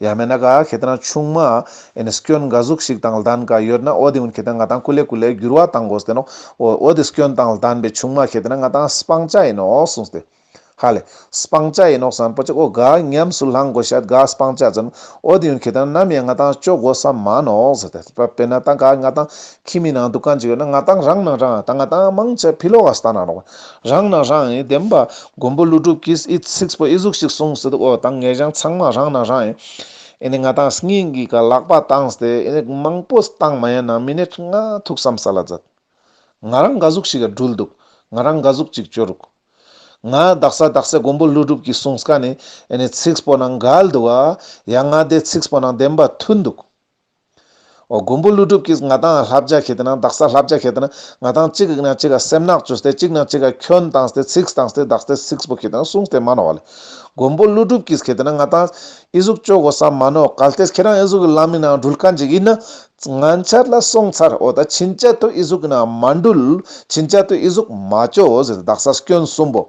ཡ་མེད་ན་ག་ཁྱེད་རང་ཆུང་མ་ཨིན་སྐྱོན་འགའ་ཟུག་ཞིག་དང་ལྡན་ག་ཡོད་ན་ཨོ་དེ་ཨུན་ཁྱེད་རང་ང་དང་ཀུ་ལེ་ཀུ་ལེ་འགྱུར་བ་དང་གོ་ཟེར་ནོ་ཨོ་དེ་སྐྱོན་དང་ལྡན་པའི་ཆུང་མ་ཁྱེད་རང་ང་དང་སྤང་བྱ་ཡིན་ནོ་གསུངས་ཏེ། ཧ་ལས། སྤང་བྱ་ཡིན་ནོ་བསམ་པོ་ཅིག་ཨོ་ག་ཉམས་སུ་བླངས་གོ་ཤད་ག་སྤང་བྱ་ཙམ་ཨོ་དེ་ཨུན་ཁྱེད་རང་ནམ་ཡང་ང་དང་སྤྱོད་གོ་ས་མ་ནོ་ཟེར་ཏེ་དཔེར་ན་ད་ག་ང་དང་ཁྱིམ་མི་ནང་དུ་གང་ཅི་ཡོད་ན་ང་དང་རང་ནང་རང་ད་ང་དང་མང་ཆེ་ཕི་ལོ་ག་ས་ན་རོགས་རང་ནང་རང་ཡིན་བདེན་པ། མགོན་པོ་ཀླུ་སྒྲུབ་ཀྱིས་ཨི་ཚིགས་པོ་ཨི་གཟུགས་ཤིག་གསུངས་ཟེར་དུས་འོ་དང་ངེད་རང་ཚང་མ་རང་ནང་རང་ཡིན། ཨི་ནི་ང་དང་སྙིང་གི་ག་ལག་པ་བཏང་སྟེ་ཨི་ནི་མང་པོ་བཏང་མ་ཡིན་ན་མི་ནི་ང་ཐུགས་བསམ་ས་ལ་མཛད། ང་རང་འགའ་གཟུགས་ཤིག་སྦྲུལ་འདུག་ང་རང་འགའ་གཟུགས་གཅིག་སྤྱོད་རུག། ང་བདག་ས་བདག་སྲས་མགོན་པོ་ཀླུ་སྒྲུབ་ཀྱིས་གསུངས་ཀ་ནི་ཨི་ནི་ཚིགས་པོ་ནང་འགལ་འདུག་ཨ། ཡ་ང་དེ་ཚིགས་པོ་ནང་བདེན་པ་མཐུན་འདུག། མགོན་པོ་ཀླུ་སྒྲུབ་ཀྱིས་ང་དང་ལྷ་བརྒྱ་ཁྱེད་དེ་ནང་བདག་ས་ལྷ་བརྒྱ་ཁྱེད་དེ་ནང་ང་དང་གཅིག་གིས་ན་གཅིག་ག་སེམས་ནག་ཅོས་ཏེ་གཅིག་ན་གཅིག་ག་ཁྱོད་དང་སྟེ་ཚིགས་དང་སྟེ་བདག་སྟེ་ཚིགས་པོ་ཁྱེད་དེ་ན་གསུངས་ཏེ་མ་ནོར་བ་ལས། མགོན་པོ་ཀླུ་སྒྲུབ་ཀྱིས་ཁྱེད་དེ་ན་ང་དང། ཨི་གཟུགས་སྤྱོད་གོ་ས་མ་ནོར་གལ་ཏེ་ཁྱེད་རང་ཨི་གཟུགས་ཀྱི་ལམ་ཡིན་ནའང་འགྲུལ་ཀ་འཇིག་ཡིན་ན། ང་འཆར་ལ་སོང་ཚར་འོ་ད་ཕྱིན་ཆད་དུ་ཨི་གཟུགས་ཀྱི་ནང་མ་འགྲུལ། ཕྱིན་ཆད་དུ་ཨི་གཟུགས་མ་སྤྱོད་འོ་ཟེར་ཏེ་བདག་ས་སྐྱོན་གསུམ་པོ།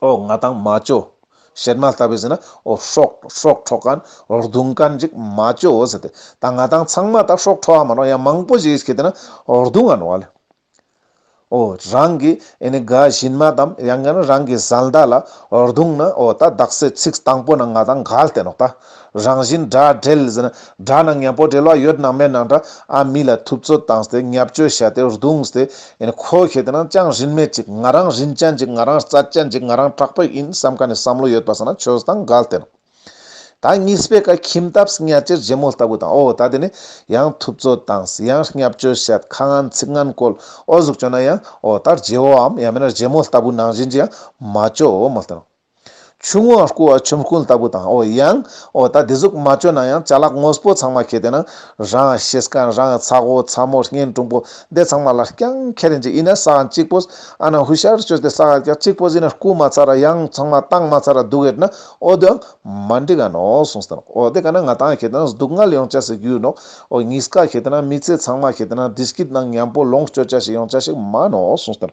ཨོ་ང་དང་མ་ཅོ། བཤད་མ་ལྟ་བུས་ཟེར་ན་ཨོ་ཧྲོག་ཧྲོག་ཁྲོག་ག་ན་རྡུང་དཀའ་འཇིགས་མ་ཅོ་ཟེར་ཏེ། ད་ང་དང་ཚང་མ་ད་ཧྲོག་ཁྲོག་ཨ་མ་ནོ་ཡང་མང་པོ་ཞིག་ཤི་དེ་ན་རྡུང་ཨ་ནོ་ལ། ཨོ་རང་གི་ཨེ་ནི་དགའ་བཞིན་མ་དམ་ཡང་ན་རང་གི་བཟའ་ཟླ་ལ་རྡུང་ན་ཨོ་ད་བདག་སྲས་ཚིགས་དང་པོ་ན་ང་དང་ག་ལ་བསྟན་ནོ་ད། རང་བཞིན་དགྲ་བྲལ་ཟེར་ན་དགྲ་ནང་ངན་པོ་བྲལ་བ་ཡོད་ནང་མེད་ནང་དགྲ་ཨ་མི་ལ་ཐུབ་ཚོད་བཏང་སྟེ་ངལ་བཅོལ་བྱས་ཏེ་རྡུང་སྟེ་ཡིན་ཁོ་ཤེས་དེ་ནང་ཅང་རིན་མེད་ཅིག་ང་རང་རིན་ཅན་ཅིག་ང་རང་རྩ་ཅན་ཅིག་ང་རང་དྲག་པོ་ཡིན་བསམ་ཁ་ནས་བསམ་བློ་ཡོད་པ་ཟེར་ན་ཆོས་བཟང་དགའ་སྟེར། ད་གཉིས་སྤེལ་ཁ་ཁྱིམ་ཐབས་གཉའ་ཁྱེར་རྗེ་མོ་ལྟ་བུ་དང་ཨོ་ད་དེ་ནི་ཡང་ཐུབ་ཚོད་བཏངས་ཡང་ངལ་བཅོལ་བྱས་ཁ་ངན་ཚིག་ངན་བཀོལ་ཨོ་གཟུགས་སྐྱོ་ན་ཡང་ཨོ་ད་རྗེ་བོའམ་ཡང་མིན་རྗེ་མོ་ལྟ་བུ་ནང་བཞིན་གྱི་ཡང་མ་བཅོས་ཨོ་མ་སྟེར། ཆུང་ངུ་སྐུ་བ་ཆོམ་རྐུན་ལྟ་བུ་དང་ཨོ་ཡང། ཨོ་ད་དེ་ཟུག་མ་བཅོས་ན་ཡང་བྱ་གླག་ངོས་པོ་ཚང་མ་ཁྱེར་དེ་ན། རང་ཤེས་ཀ་རང་ཚ་གོ་ཚ་མོ་སྙན་དྲུང་པོ་འདི་ཚང་མ་ལ་རྐྱང་ཁྱེར་རིན་ཅི་ཡིན་ན་ས་ཨ་གཅིག་པོ། ཨ་ན་ཧུ་ཤར་བཅོས་ཏེ་ས་ཨ་རྐྱང་གཅིག་པོ་ཟིན་ན་རྐུ་མ་ཚར་ར་ཡང་ཚང་མ་བཏང་མ་ཚར་ར་སྡུག་ཨེ་ན་ཨོ་དོན་མ་འགྲིག་ཨ་ནོ་གསུངས་སྟེ་ན་ཨོ་དེ་ག་ན་ང་ཏང་ཁྱེར་དེ་ན་སྡུག་བསྔལ་ཡོང་བྱ་ཟིག་རྒྱུ་ནོ། ཨོ་གཉིས་ཀ་ཁྱེར་དེ་ན་མི་ཚེ་ཚང་མ་ཁྱེར་དེ་ན་དྲི་སྐྱིད་ནང་ཉམས་པོ་ལོངས་སྤྱོད་བྱ་ཞིག་ཡོང་བྱ་ཞིག་མ་ནོ་གསུངས་སྟེ་ན།